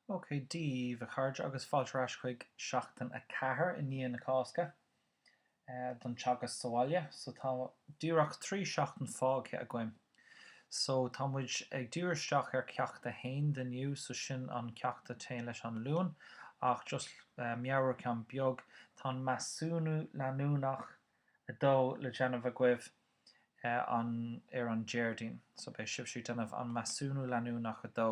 OK, Dia daoibh, a chairde, agus fáilte ar ais chuig Seachtain 4 i ndiaidh na Cásca don Teagasc sa Bhaile. So tá díreach trí seachtain fágtha againn. So tá muid ag díriú isteach ar Ceacht 1 de inniu, so sin an ceacht a téann leis an Luan, ach just meabhrúchán beag, tá an measúnú leanúnach 2 le déanamh agaibh. an ar an Déardaoin so beidh sibhse ag déanamh an measúnú leanúnach 2.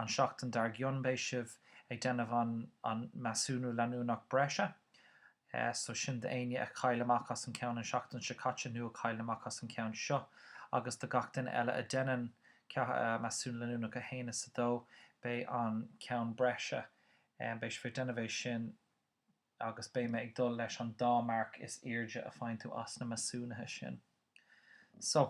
An seachtain dar gcionn beidh sibh ag déanamh an an measúnú leanúnach breise so sin do éinne a chaill amach as an ceann an seachtain seo caite nó a chaill amach as an ceann seo agus do gach duine eile a déanann measúnú leanúnach 1 is 2 beidh an ceann breise beidh sibh ag déanamh é sin agus beidh mé ag dul leis an dá marc is airde a faigheann tú as na measúnuithe sin. So,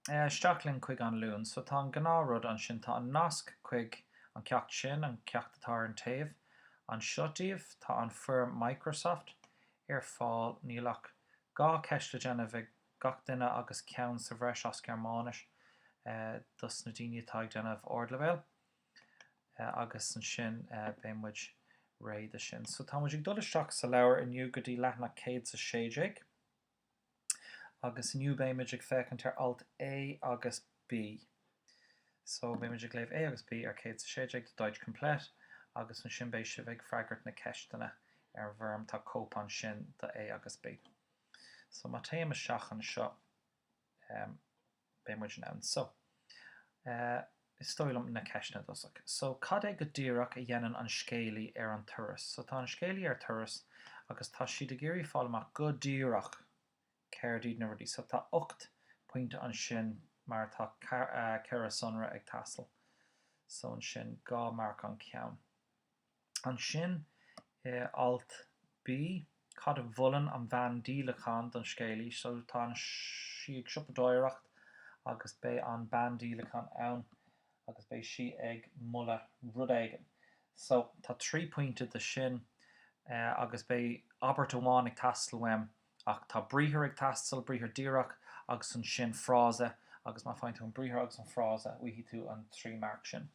isteach linn chuig An Luan. So, tá an gnáth rud ansin, tá an nasc chuig an ceacht sin, an ceacht atá ar an taobh anseo daoibh. Tá an foirm Microsoft ar fáil, níl ach dhá cheist le déanamh ag gach duine agus ceann sa bhreis as Gearmáinis dos na daoine atá ag déanamh Ardleibhéal. agus ansin beidh muid réidh do sin. So tá muid ag dul isteach sa leabhar inniu go dtí leathanach céad is a sé déag agus inniu beidh muid ag féachaint ar alt A agus B. So beidh muid ag léamh A agus B ar céad is a sé déag de Deutsch Komplett agus ansin beidh sibh ag freagairt na ceisteanna ar an bhfoirm, tá cóip ansin do A agus B. So má téim isteach anseo, beidh muid in ann so, eh, is dóigh liom, na ceisteanna i dtosach so cad é go díreach a dhéanann an scéalaí ar an turas so tá an scéalaí ar turas agus tá siad ag iarraidh fáil amach go díreach céard iad na rudaí so tá ocht bpointe ansin mar tá ceithre sonra ag teastáil so ansin dhá marc an ceann. Ansin, i alt B, cad a mholann an bhean díolachán don scéalaí? So tá an sí ag siopadóireacht agus beidh an bean díolachán ann agus beidh sí ag moladh rud éigin. So tá trí pointe do sin agus beidh abairt amháin ag teastáil uaim ach tá briathar ag teastáil, briathar díreach agus ansin frása agus má faigheann tú an briathar agus an frása, faighidh tú an trí marc sin.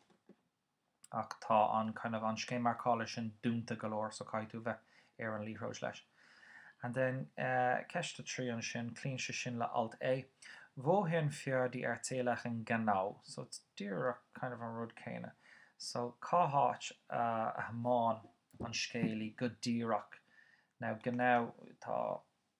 ach tá an kind of an scéim marcála sin dúnta go leor so caithfidh tú bheith ar an liathróid leis. And then eh ceist a trí ansin, cloíonn sé sin le alt A, wohin fährt die Erzählerin genau so it's díreach kind of an rud céanna. So cá háit a thiomáin an scéalaí go díreach? Now genau tá.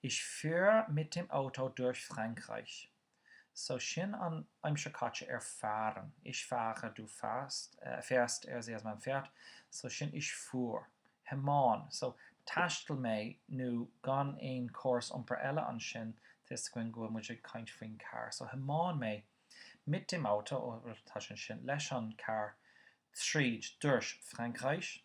Ich fuhr mit dem Auto durch Frankreich. So sin an aimsir caite ar fahren. Ich fahre, du fährst, fährst, er sie es man fährt, so sin ich fuhr. Thiomáin, so thaistil mé, nó mura bhfuil aon córas iompair eile ansin, tá a fhios againn go bhfuil muid ag caint faoin carr, so thiomáin mé, mit dem Auto, ó, bhuel, tá sé ansin, leis an carr, tríd, durch Frankreich.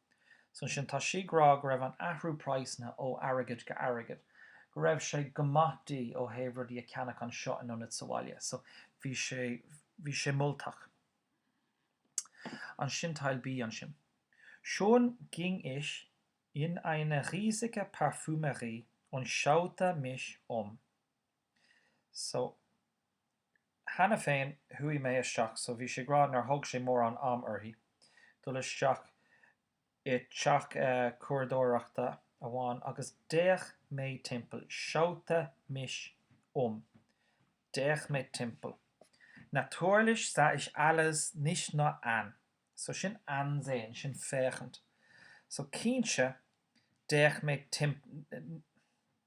So ansin tá sí ag rá go raibh an athrú praghsanna ó airgead go airgead, go raibh sé go maith di ó thaobh rudaí a ceannach anseo in ionad sa bhaile, so bhí sé, bhí sé moltach. Ansin Teil B ansin. Schon ging ich in eine riesige Parfümerie und schaute mich um. So, cheana féin, chuaigh mé isteach, so bhí sí ag rá nár thóg sé mórán am uirthi dul isteach i dteach cumhradóireachta amháin agus d'fhéach mé timpeall, schaute mich um, d'fhéach mé timpeall. Natürlich sah ich alles nicht nur an, so sin ansehen, sin féachaint. So cinnte, d'fhéach mé timpeall,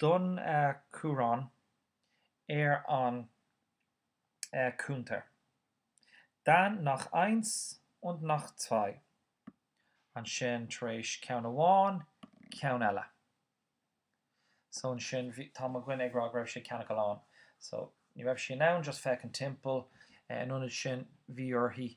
Den chumhrán ar an cuntar, dann nach eins und nach zwei, ansin tar éis ceann amháin, ceann eile. So ansin bhí, tá mo dhuine ag rá go raibh sé ag ceannach a lán. So ní raibh sí in ann just féachaint timpeall. In ionad sin bhí uirthi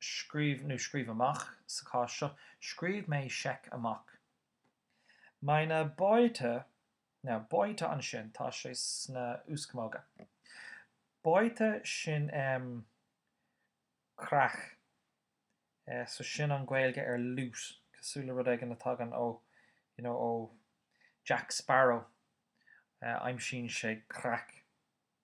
scríobh nó scríobh amach, sa chás seo, scríobh mé seic amach. Meine Beute, now Beute ansin, tá sé sna h-úscamóga. Beute sin em creach. Eh, so sin an Gaeilge ar loot, cosúil le rud éigin a tagann ó, you know, ó Jack Sparrow, eh, aimsíonn sé creach.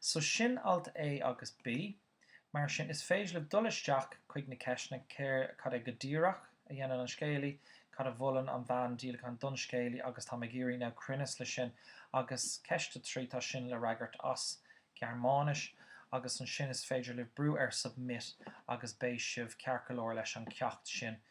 So sin alt A agus B. Mar sin, is féidir libh dul isteach chuig na ceisteanna, céard, cad é go díreach a dhéanann an scéalaí, cad a mholann an bhean díolacháin don scéalaí agus táim ag iarraidh now cruinneas leis sin agus ceist a trí, tá sin le fhreagairt as Gearmáinis agus ansin is féidir libh brú ar submit agus beidh sibh ceart go leor leis an cheacht sin.